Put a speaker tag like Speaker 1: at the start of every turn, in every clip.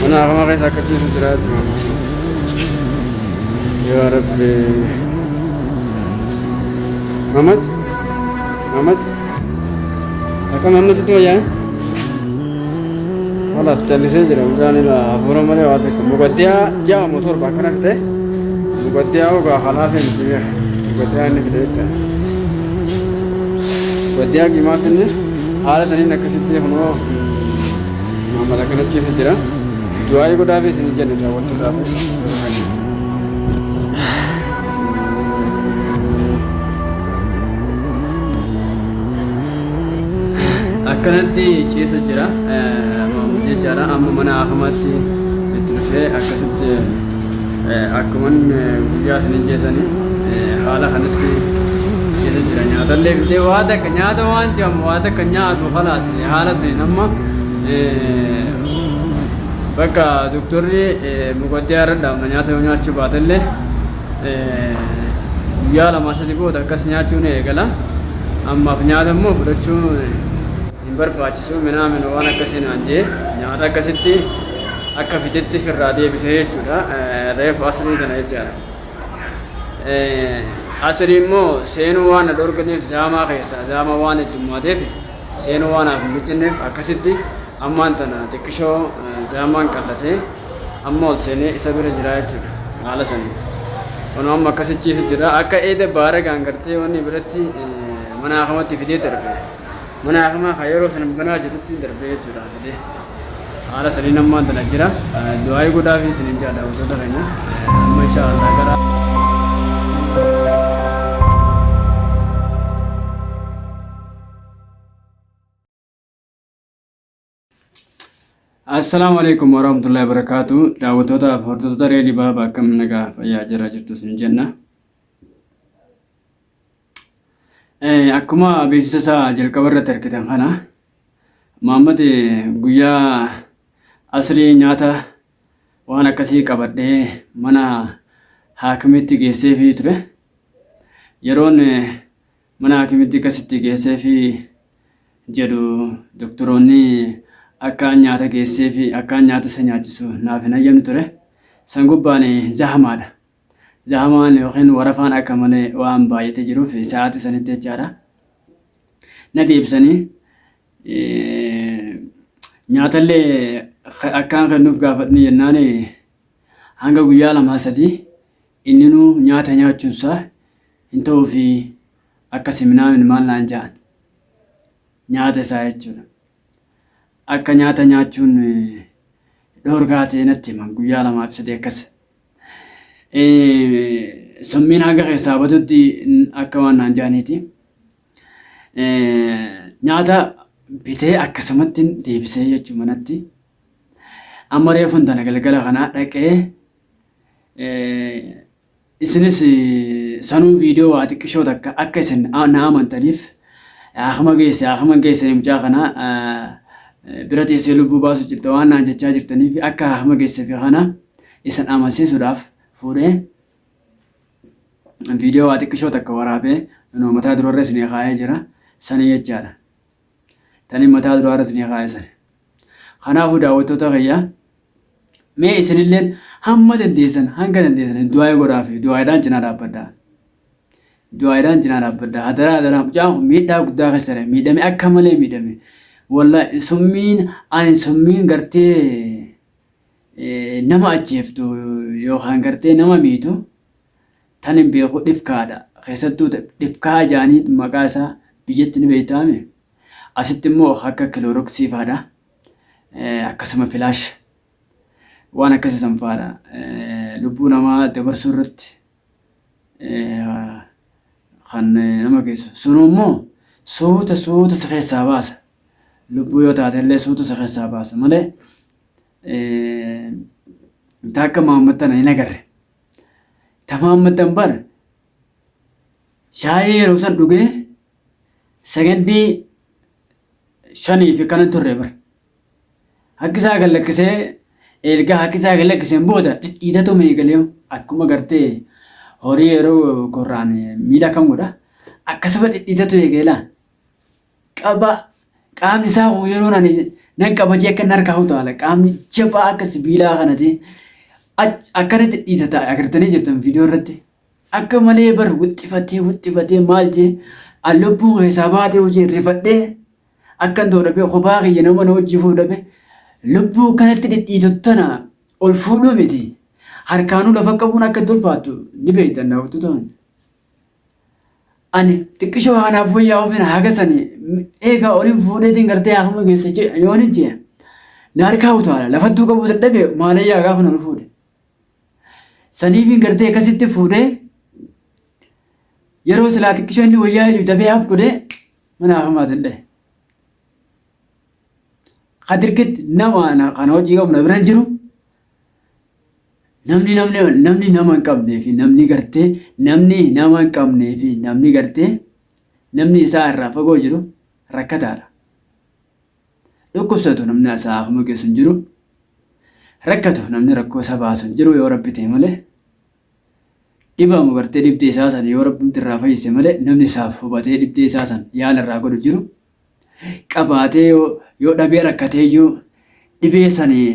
Speaker 1: Mana hafama keessa akka ciisu jira jechuudha. Yoo rabbi. Mamad? Mamad? Akka mamnasitti wayyaa? Halas callisee jira mucaan ilaa hafuura malee waa takka muqaddiyaa ja'a moo torba akkana fite muqaddiyaa ogaa halaafee miti beeka muqaddiyaa inni fite jecha muqaddiyaa gimaa finne haala saniin akkasitti kunoo maammada kana ciisa jira du'aa'ii godhaafii isin jenna daawwattootaaf Akkanatti ciisa jira Maamud jechaadha. Amma mana haakamaatti itti dhufee akkasitti akkuman guyyaa sinin jeesanii haala kanatti ciisa jira. Nyaatallee fidee waa takka nyaata waan jedhamu waa takka nyaatu kalaas haala saniin amma bakka doktorri muqaddiyaa irra dhaabna nyaata yoo nyaachuu baatellee guyyaa lamaa sadi booda akkas nyaachuu ni eegala ammaaf nyaata immoo fudhachuu hin barbaachisu minaamin waan akkasii naan jee nyaata akkasitti akka fitetti firraa deebise jechuudha reefu asrii kana jechaadha asrii immoo seenuu waan na dhorganiif zaamaa keessa zaamaa waan heddummaateef seenuu waan haaf hin bittinneef akkasitti ammaan tana xiqqishoo zaamaan qallatee amma ol seenee isa bira jira jechuudha haala sanii kunoo amma akkasi ciisu jira akka eeda baara gaangartee wanni biratti mana hakamatti fidee darbe mana hakamaa kan yeroo san banaa jirutti darbe jechuudha fidee haala sanii nammaan tana jira du'aayii godhaa fi sinin jaadha wantoota keenya amma insha Allah gara Assalaamu alaikum warahmatullahi wabarakatuh. Daawwattoota fi hordoftoota Reedii Baaba akkam nagaa fayyaa jirra jirtu isin jenna. Eh, Akkuma beeksisa isaa jalqaba irratti argitan kana Maammad guyyaa asrii nyaata waan akkasii qabadhee mana haakimiitti geesseefii ture. Yeroon eh, Mana haakimitti kas itti geesseefi jedhu doktaroonni akkaan nyaata geesseefi akkaan nyaata isa nyaachisu naaf hin hayyamne ture. San gubbaan zahamaadha. Zahamaan yookiin warafaan akka malee waan baay'atee jiruuf sa'aatii sanitti jechaadha. Nati ibsanii nyaatallee akkaan kennuuf gaafadhni jennaan hanga guyyaa lamaa sadii Inninuu nyaata nyaachuun isaa hin ta'uufii akka siminaamin maal naan ja'an nyaata isaa jechuudha. Akka nyaata nyaachuun dhoorgaa ta'e natti himan guyyaa lamaa fi sadii akkas. Summiin hanga keessaa badutti akka waan naan ja'aniiti. Nyaata bitee akkasumatti deebisee jechuu manatti. Amma reefun tana galgala kanaa dhaqee isinis sanuu viidiyoo waa xiqqishoo takka akka isin na amantaniif akkuma geesse akkuma geesse mucaa kana bira teessee lubbuu baasuu jirta waan naan jechaa jirtaniif akka akkuma geesse fi kana isin amansiisuudhaaf fuudhee viidiyoo waa xiqqishoo takka waraabee mataa durarra isin kaa'ee jira sana jechaadha. Tani mataa duraa irra isinii kaa'e sani. Kanaafuu daawwattoota kiyya mee isinilleen hamma dandeessan hanga dandeessan du'aa'ee godhaafi du'aa'eedhaan cinaa dhaabbadhaa. Du'aa'eedhaan cinaa dhaabbadhaa. Hadaraa hadaraa mucaan kun miidhaa guddaa keessa jira. Miidhame akka malee miidhame. Wallaahi summiin ani summiin gartee nama ajjeeftu yookaan gartee nama miitu Tan hin beeku dhifkaa dha. Keessattuu ta dhifkaa jaaniin maqaa isaa biyyatti ni beektaa mi? Asitti immoo ka akka kilooroksii faa dha. Akkasuma filaash waan akkasii san faa dha. Lubbuu namaa dabarsuu irratti kan nama geessu. Sunu immoo suuta suuta si keessaa baasa. Lubbuu yoo taate illee suuta si keessaa baasa malee ta akka Mahammad tana hin agarre. Tamaammatan bar shaayii yeroo san dhugee sagandii shanii fi kanan turre bar. Harki isaa gad lakkisee erga harki isaa gad lakkiseen booda dhidhiitatu meegalee akkuma gartee horii yeroo korraan miila akkam godha akkasuma dhidhiitatu eegeela. qaba qaamni isaa kun yeroon ani nan qaba jee akka inni harkaa utaala qaamni jabaa akka sibiilaa kanati akkanatti dhiitata agartanii jirtan viidiyoo irratti akka malee bar wixxifatee wixxifatee maal jee an lubbuu keessaa baatee hojii rifadhee akkan ta'u dhabee kophaa kiyya nama na hojii fuuf dhabee lubbuu kanatti dhidhiitu tana ol fuudhuu miti harkaanuu lafa qabuun akka itti ulfaattu ni beektan daawwattoota. ani xiqqishoo haanaaf fooyyaa ofiin hagasani eegaa olin fuudheetiin gartee haakuma geessa jee yooni jee naarkaa utaala lafattuu qabuu dadhabe maalayyaa gaafa nan fuudhe saniifiin gartee akkasitti fuudhee yeroo silaa xiqqishoo inni wayyaa hidhu dafee haaf godhee mana haakumaa danda'e. Kadirkitti nama kan hojii qabna bira jiru Namni namni namni nama hin qabnee fi namni gartee namni nama hin qabnee fi namni gartee namni isaa irraa fagoo jiru rakkataadha. Dhukkubsatu namni isaa akkuma geessu hin jiru. Rakkatu namni rakkoo isaa baasu hin jiru yoo rabbi ta'e malee. Dhibamu gartee dhibdee isaa san yoo rabbumti irraa fayyise malee namni isaaf hubatee dhibdee isaa san yaala irraa godhu jiru. Qabaatee yoo yoo dhabee rakkatee iyyuu dhibee sanii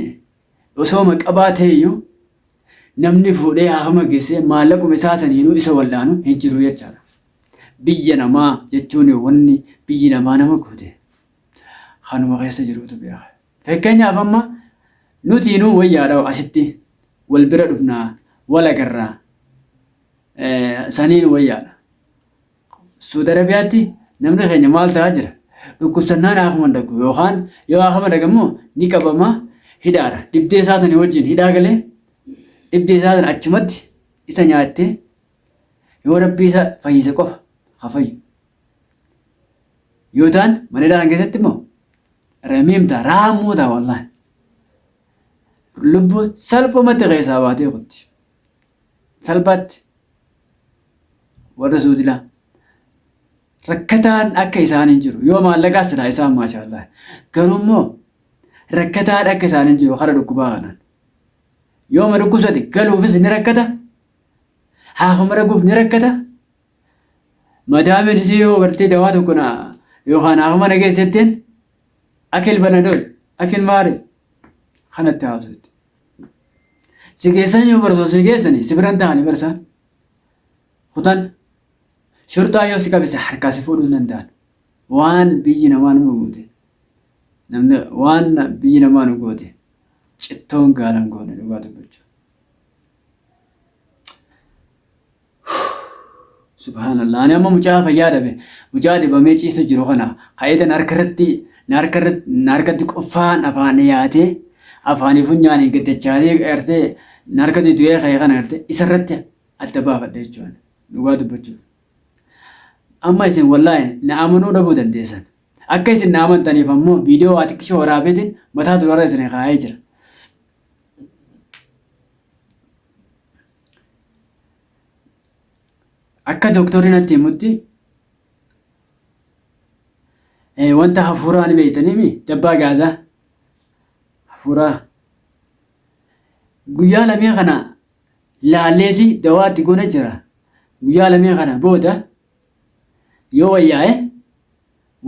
Speaker 1: Osooma qabaateeyyuu namni fuudhee haafama geessee maallaquma isaa saniinuu isa wallaanu hin jiru jechaadha. Biyya namaa jechuun wanni biyyi namaa nama goote kanuma keessa jiruutu beeka. Fakkeenyaaf amma nutiinuu wayyaadha asitti wal bira dhufna, wal agarra saniin wayyaadha. Suudi Arabiyaatti namni keenya maal ta'aa jira? Dhukkubsannaan haa komandakku yookaan yoo haa komandaga immoo ni qabama hidhaadha. Dhibdee isaa sanii wajjin hidhaa galee dhibdee isaa sana achumatti isa nyaattee yoo rabbii isa fayyise qofa haa fayyu. Yoo ta'an mana hidhaa kana keessatti immoo ramiim ta'a raammoo ta'a wallaahi. Lubbuu salphumatti keessaa baatee kutti. Salphaatti warra suudila rakkataan akka isaan hin jiru yoo maallaqaa silaa isaan maashaallah garuu immoo rakkataan akka isaan hin jiru kara dhukkubaa kanaan yoo ma dhukkubsate galuufis ni rakkata haafuma dhaguuf ni rakkata madaamiin isii yoo gartee dawaa tokko na yookaan haafuma na geessetteen akil banadol akil maari kanatti haasuutti. Si keessan yoo barsa si keessani si biran ta'ani barsa. Kutan shurxaa yoo si qabise harkaa si fuudhuu hin danda'an. Waan biyyi namaa nama goote. Namni waan biyyi namaa nu goote. Cittoon gaalan goone dhugaa dubbachuu. Subhaanallah ani amma mucaa fayyaa dhabe mucaa dhibamee ciisu jiru kana ka'eetan harka irratti na harka irratti na harkatti quffaan afaan dhiyaatee afaanii funyaanii gaddachaatee gartee na harkatti du'ee ka'e kana gartee isa irratti adda baafadha jechuudha dhugaa dubbachuuf. Amma isin wallaahi na amanuu dhabuu dandeessan. Akka isin na amantaniif ammoo viidiyoo waa xiqqishoo waraabeetiin mataa durarra isin kaa'ee jira. Akka doktorri natti himutti wanta hafuuraa ni beektaniimi jabbaa gaazaa hafuuraa guyyaa lamee kana laalleeti dawaatti goona jira guyyaa lamee kana booda Yoo wayyaa'e,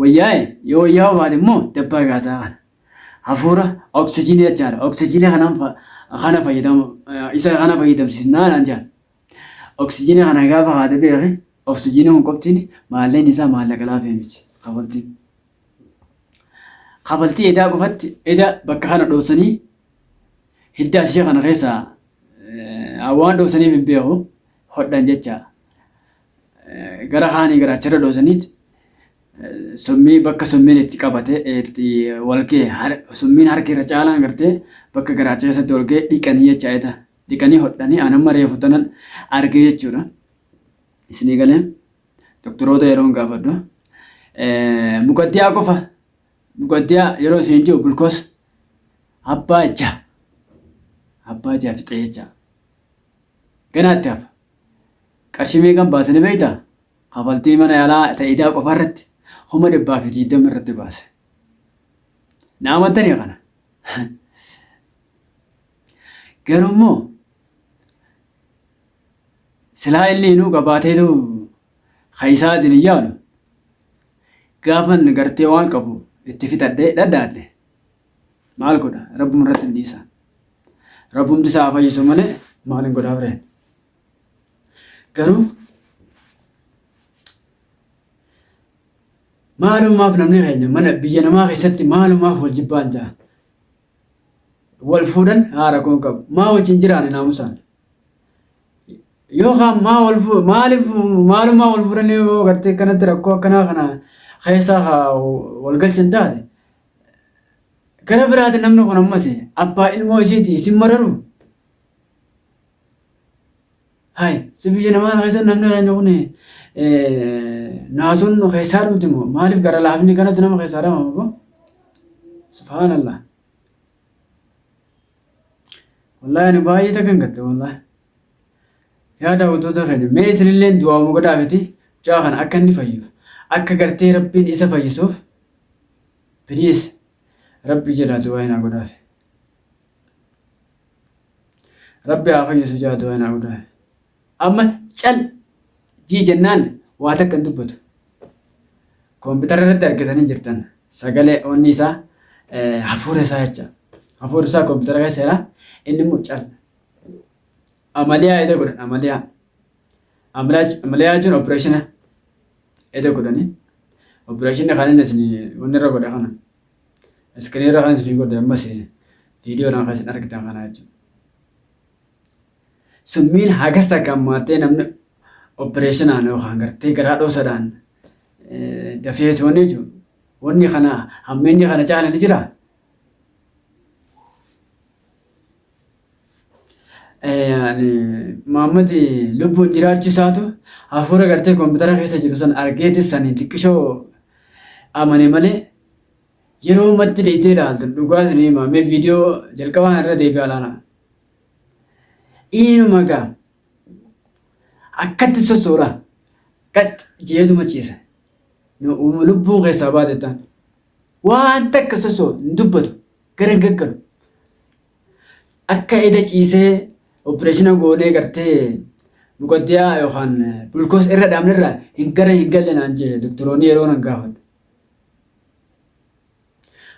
Speaker 1: wayyaa'e, yoo wayyaa'uu baate immoo dabbaa gaasaa kana. Hafuura oksijiinii jechaadha. Oksijiinii kanaan fa- kana fayyadam isa kana fayyadamsiisnaa naan jedhan. Oksijiinii kana gaafa haate beeki oksijiinii kun qoftiin maalleen isaa maallaqa laafee miti kafaltiin. Kafaltii edaa qofatti eda bakka kana dhoofsanii hidda asii kana keessaa eh, waan dhoofsaniif hin beeku hodhan jecha. gara kaanii garaacharra dhoosaniit summii bakka summiin itti qabate itti walgee summiin harki irra caalaan gartee bakka garaacha keessatti walgee dhiqanii jecha eeta dhiqanii hodhanii anamma reefu tanan argee jechuudha. Isinii galee doktoroota yeroon gaafadhu muqaddiyaa qofa muqaddiyaa yeroo isin jiru bulkoos abbaa ija abbaa ija fixee jecha ganaatti hafa Qarshii meeqan baase ni beektaa? Kafaltii mana yaalaa ta idaa qofa irratti kuma dhibbaa fi diiddama irratti baase. Na amantanii kana? Garuu immoo silaa inni inuu qabaateetu ka isaatiin hin yaalu. Gaafan gartee waan qabu itti fixadhee dhadhaadhe maal godha rabbuma irratti hin dhiisa. Rabbumti isaa haa fayyisu malee maal hin godhaa bireen. Garuu maalumaaf namni keenya mana biyya namaa keessatti maalumaaf wal jibbaan ta'a. Wal fuudhan haa rakkoon qabu. Maa wajjin jiraane naamusaan. Yookaan maa wal fuudhan maaliif maalumaa wal fuudhan yoo gartee kanatti rakkoo akkanaa kana keessaa haa wal galchan taate. Gara biraati namni kun ammas abbaa ilmoo isiiti isin mararu. Hai, si biyya namaa kana keessa namni keenya kun naasuun nu keessaa dhumti moo maaliif gara laafni kanatti nama keessaa dhamama moo? Subhaanallah. Wallahi ani baay'ee takkan gatte wallahi. Yaa daawwattoota keenya mee isinillee du'aa muka daafiti mucaa kana akka inni fayyuuf akka gartee rabbiin isa fayyisuuf please rabbi jedhaa du'aa hin haa godhaafi. Rabbi haa fayyisu jaa du'aa naa hudaa. Amma cal jii jennaan waa takka hin dubbatu. Koompitara irratti argitanii jirtan sagalee onni isaa eh, hafuura isaa jecha. Hafuurri isaa koompitara keessa jira inni immoo cal. Amaliyaa eda godhan amaliyaa. Amaliyaa amaliyaa jechuun opereeshina eda godhanii. Opereeshinni kan inni isin wanni irra godha kana. Screen irra kan isin godhe ammas viidiyoo irraa kan isin argitan kana jechuudha. Summiin hagas takka ammaattee namni opereeshinaan yookaan gartee garaa dhoosadhaan dafee soonee jechuudha. Wanni kana hammeenyi kana caala ni jiraa? ani Muhammad lubbuun jiraachuu isaatu hafuura gartee koompitara keessa jiru san argeeti sanii xiqqishoo amane malee yeroo ammatti deeytee ilaaltu dhugaa isin hima mee viidiyoo jalqabaan irra deebi'aa ilaala. Inuma gaa akkatti sossoora qax jeetuma ciisa. Uuma lubbuun keessaa baate ta'an waan takka sossoo hin dubbatu gara hin gaggalu. Akka eda ciisee opereeshina goonee gartee muqaddiyaa yookaan bulkoos irra dhaabnerra hin gara hin galle naan jee doktoroonni yeroo nan gaafadhu.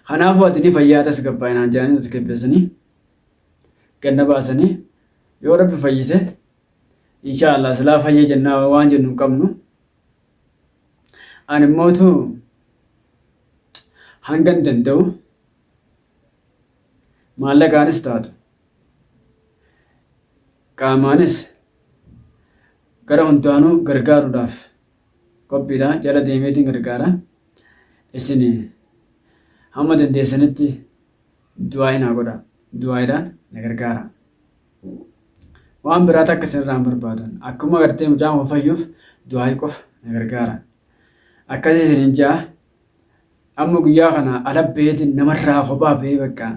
Speaker 1: Kanaafuu ati ni fayyaa tasgabbaa'e naan jedhanii tasgabbeessanii ganna baasanii yoo rabbi fayyise inshaa Allah silaa fayya jennaa waan jennu hin qabnu. Ani immoo hangan danda'u maallaqaanis taatu qaamaanis gara hundaanuu gargaaruudhaaf qophiidha. Jala deemeetiin gargaara. Isin hamma dandeessanitti du'aa'iin haa godhaa. Du'aa'iidhaan na gargaara. Waan biraa takka isinirraa hin barbaadan. Akkuma gartee mucaan kun fayyuuf du'aa'ii qofa na gargaara. Akkasii isiniin ja'a. Amma guyyaa kana ala baheetiin namarraa kophaa bahee bakka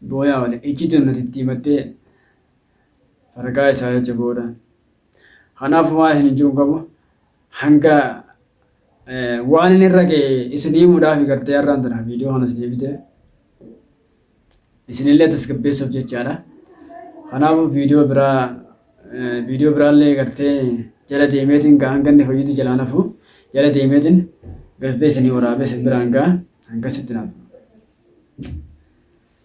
Speaker 1: booyaa oole. Iccitiin nuti itti himattee faragaa isaa jecha booda. Kanaafuu waan isiniin jiru qabu Hanga waanin irra gahe isin himuudhaafi gartee har'aan tana viidiyoo kana isinii fide. Isinillee tasgabbeessuuf jechaadha. Kanaafuu viidiyoo biraa viidiyoo biraallee gartee jala deemeetiin gaa hanga inni fayyutti jalaan hafu jala deemeetiin gartee isinii waraabee isin biraan gaa hangasitti naaf.